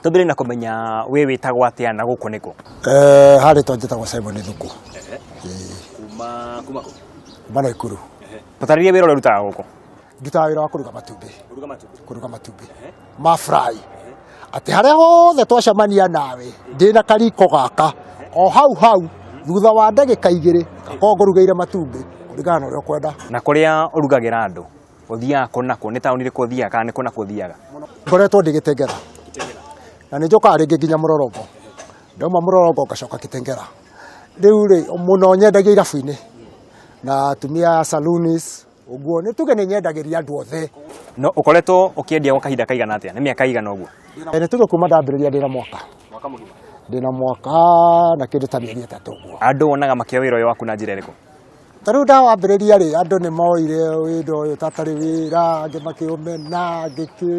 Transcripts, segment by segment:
Tũthire na kũmenya wĩ wĩtagwo atĩa na gũkũ nĩkũ? Eh, ha rĩtwa njĩtagwo Simon Thuku. Kuma kuma kũ? Kuma Naikuru. Tũtarĩrie wĩra ũrĩa ũrutaga gũkũ. Ndutaga wĩra wa kũruga matumbĩ. Kũruga matumbĩ. Kũruga matumbĩ. Ma fry. Atĩ harĩa hothe twacemania nawe ndĩ na kariko gaka o hau hau thutha wa ndagĩka igĩrĩ ngakorwo ngũrugĩire matumbĩ kũringana na ũrĩa ũkwenda. Na kũrĩa ũrugagĩra andũ Ũthiaga kũ nakũ? Nĩ taũni ĩrĩkũ ũthiaga kana nĩ kũ nakũ ũthiaga? Ngoretwo ndĩ Gĩtengera na nĩ njokaga rĩngĩ nginya Mũrorombo, ndauma Mũrorombo ngacoka Gĩtengera. Rĩu rĩ, mũno nyendagio irabu-inĩ na atumia a saloons ũguo, nĩ tuge nĩ nyendagĩria andũ othe. No ũkoretwo ũkĩendia gwa kahinda kaigana atĩa? Nĩ mĩaka ĩigana ũguo? Eh, Nĩ tuge kuma ndambĩrĩria ndĩ na mwaka, ndĩ na mwaka na kĩndũ ta mĩeri ĩtatũ ũguo. Andũ wonaga makĩoya wĩra ũyũ waku na njĩra ĩrĩkũ? Ta rĩu ndawambĩrĩria-rĩ, andũ nĩ moire wĩra ũyũ ta tarĩ wĩra, angĩ makĩũmena, angĩ kĩ,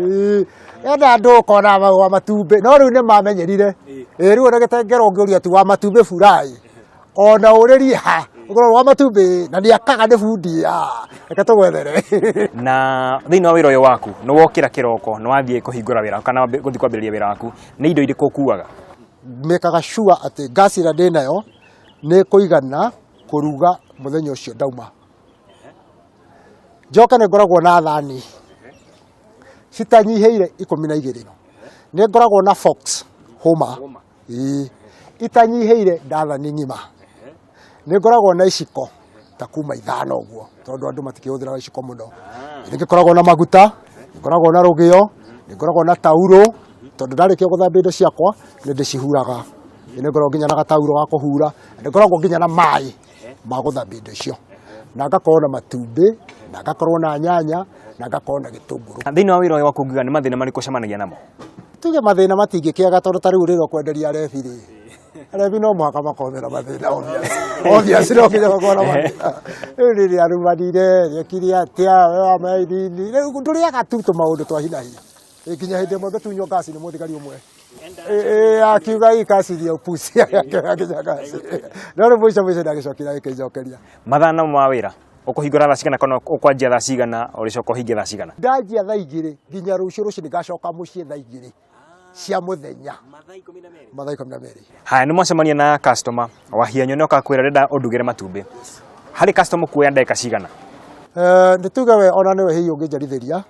ĩndĩ andũ ũkona ma- wa matumbĩ, no rĩu nĩ mamenyerire. Ĩĩ rĩu ona gĩtengera ũngĩũria ati wa matumbĩ bura-ĩ, ona ũrĩrie ha, ũkorwo wa matumbĩ na nĩ akaga nĩ bundi, ah, reke tũgwethere. na thĩinĩ wa wĩra ũyũ waku nĩ wokĩra kĩroko nĩ wathiĩ kũhingũra wĩra kana wambi- gũthiĩ kwambĩrĩria wĩra waku nĩ indo irĩkũ ũkuaga mekaga sure atĩ gas ĩrĩa ndĩ nayo nĩ ĩkũigana kũruga mũthenya ũcio ndauma njoke nĩ ngoragwo na thani citanyihĩire ikũmi na igĩrĩ nĩ ngoragwo na fox hũma ii itanyihĩire ndathani ng'ima nĩ ngoragwo na iciko ta kuma ithano ũguo tondũ andũ matikĩhũthĩraga iciko mũno nĩ ngĩkoragwo na maguta nĩ ngoragwo na rũgĩo nĩ ngoragwo na tauro tondũ ndarĩkia gũthambia indo ciakwa nĩ ndĩcihuraga nä ngoragwo nginya na gatauro ga kå hura nä ngoragwo nginya na maä ma gå thambia indo icio na ngakorwo na matumbä na ngakorwo na nyanya na ngakorwo na gä tå ngå rå Na thĩinĩ wa wĩra ũyũ wa kũnguga nĩ mathĩna marĩkũ ũcemanagia namo? tuge mathä na matingä kä aga tondå tarä u rä rwo kwenderia rebi rä rebi no mũhaka makomera mathä na obiaci no nginya makona mathĩna. rä u rä rä arumanire rekire atä a we wamainini rä u ndå rä aga tu tå maå ndå twa hinahi Ikinya hĩndĩ ĩmwe ngĩtunywo ngaci nĩ mũthigari ũmwe Ĩ- ĩ, akiuga ikacithia upusi akinya ngaci no rĩu mũico mũico ndagĩcokire agĩkĩnjokeria mathana ma wĩra ũkũhingũra thaa cigana kana ũkwanjia thaa cigana ũrĩcoka ũhingie thaa cigana ndanjia thaa igĩrĩ nginya rũciũ rũcinĩ ngacoka mũciĩ thaa igĩrĩ cia mũthenya mathaa ikũmi na merĩ haya nĩ mwacemania na customer wahianyo nĩ okakwĩra renda ũndugĩre matumbĩ harĩ customer kuoya ndagĩka cigana Eh, nĩ tuge we ona nĩwe hihi ũngĩnjarithĩria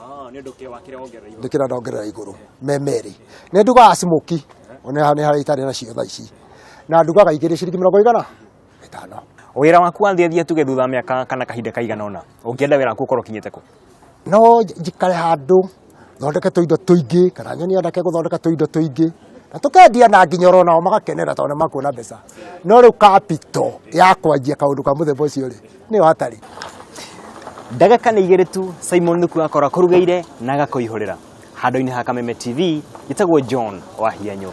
Ah, nĩ ũndũ kĩ wakĩra wongerera igũrũ. ndikira ndongerera iguru me merĩ nä ndugaga smoki nä harä a itarä nacio tha ici na ndugaga igä rä ciringi mä rongo igana ĩtano Wĩra waku wanjĩrĩria tuge thutha wa mĩaka kana kahinda kaigana ũna. Ũngĩenda wĩra waku ũkorwo ũkinyĩte kũ? no nj- njikare handå thondeke tå indo tå ingä kana nyoni yandake gå thondeka tå indo tå ingä na tå kendia na nginya oro nao magakenera tondå nä makuona mbeca no rä u kapito ya kwanjia kaå ndå ka må themba å cio rä nĩyo hatarĩ ndagĩka nĩ igĩrĩ tu simon nuku akorwo akũrugĩire na agakũihũrĩra handũ-inĩ ha kameme tv gĩtagwo john wa hianyo